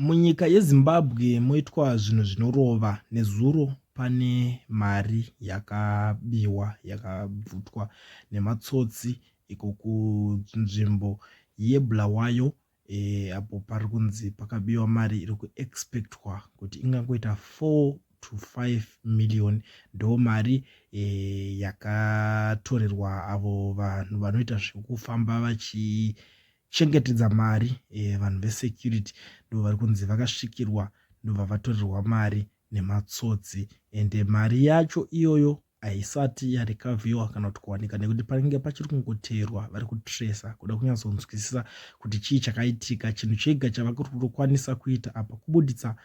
Munyika yeZimbabwe moitwa zvinhu zvinorova. Nezuro pane mari yakabiwa yakabvutwa nematsotsi iko kunzvimbo yeBulawayo e, apo pari kunzi pakabiwa mari iri kuexpectwa kuti ingangoita 4 to 5 million ndo mari e, yakatorerwa avo vanhu vanoita zvekufamba vachi chengetedza mari e, vanhu vesecurity ndo vari kunzi vakasvikirwa ndobva vatorirwa mari nematsotsi ende mari yacho iyoyo haisati yarecoviwa kana kuti kuwanika nekuti panenge pachiri kungoteerwa vari kutresa kuda kunyatsonzwisisa kuti chii chakaitika chinhu chega chavakukwanisa kuita apa kubuditsa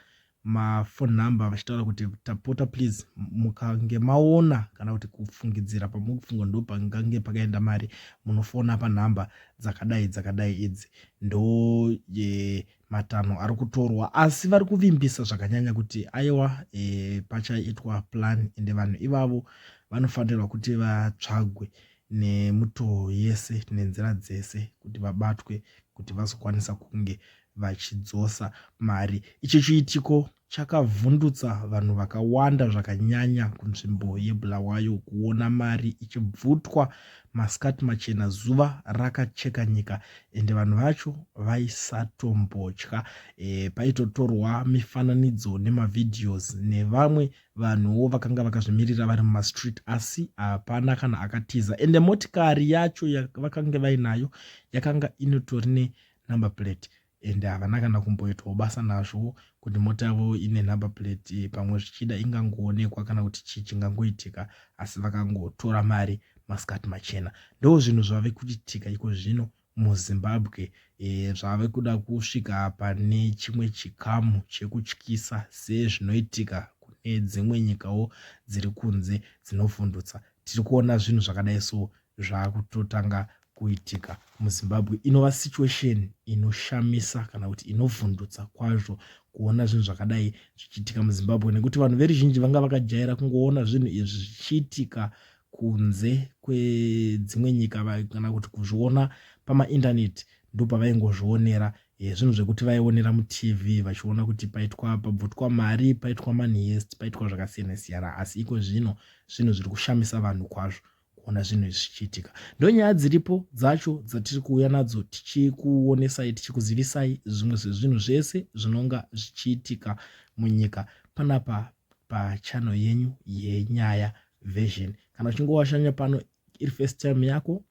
maphone number vachitaura kuti tapota please mukange maona kana kuti kufungidzira pamuri kufunga ndo pangange pakaenda mari munofona panhamba dzakadai dzakadai idzi ndo e, matanho ari kutorwa asi vari kuvimbisa zvakanyanya kuti aiwa e, pachaitwa plan ende vanhu ivavo vanofanirwa kuti vatsvagwe nemutoo yese nenzira dzese kuti vabatwe kuti vazokwanisa kunge vachidzosa mari. Ichi chiitiko chakavhundutsa vanhu vakawanda zvakanyanya kunzvimbo yeBulawayo kuona mari ichibvutwa masikati machena zuva rakacheka nyika ende vanhu vacho vaisatombotya e, paitotorwa mifananidzo nemavideos nevamwe vanhuwo vakanga vakazvimirira vari mumastreet asi hapana kana akatiza ende motikari yacho vakange vainayo yakanga inotori ne number plate and havana kana kumboitwawo basa nazvo kuti mota yavo ine number plate pamwe zvichida ingangoonekwa kana kuti chii chingangoitika asi vakangotora mari masikati machena ndo zvinhu zvave kuchitika iko zvino muzimbabwe e, zvave kuda kusvika pane chimwe chikamu chekutyisa sezvinoitika kune dzimwe nyikawo dziri kunze dzinovhundutsa tiri kuona zvinhu zvakadai so zvaakutotanga kuitika muzimbabwe inova situation inoshamisa kana kuti inovhundutsa kwazvo kuona zvinhu zvakadai zvichiitika muzimbabwe nekuti vanhu veruzhinji vanga vakajaira kungoona zvinhu izvi zvichiitika kunze kwedzimwe nyika kana kuti kuzviona pamaintaneti ndopavaingozvionera eh, zvinhu zvekuti vaionera mutv vachiona kuti paitwa pabvutwa mari paitwa manhest paitwa zvakasiyana siyana asi iko zvino zvinhu zviri kushamisa vanhu kwazvo kuona zvinhu izvi zvichiitika ndonyaya dziripo dzacho dzatiri kuuya nadzo tichikuonesai tichikuzivisai zvimwe zvezvinhu zvese zvinonga zvichiitika munyika panapa pachano yenyu yenyaya version kana uchinge washanya pano iri first time yako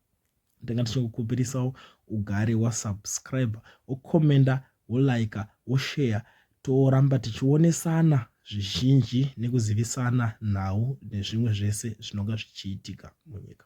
ndanga ndichikukupirisawo ugare wasubscribe wokomenda wolaika wosheya toramba tichionesana zvizhinji nekuzivisana nhau nezvimwe zvese zvinonga zvichiitika munyika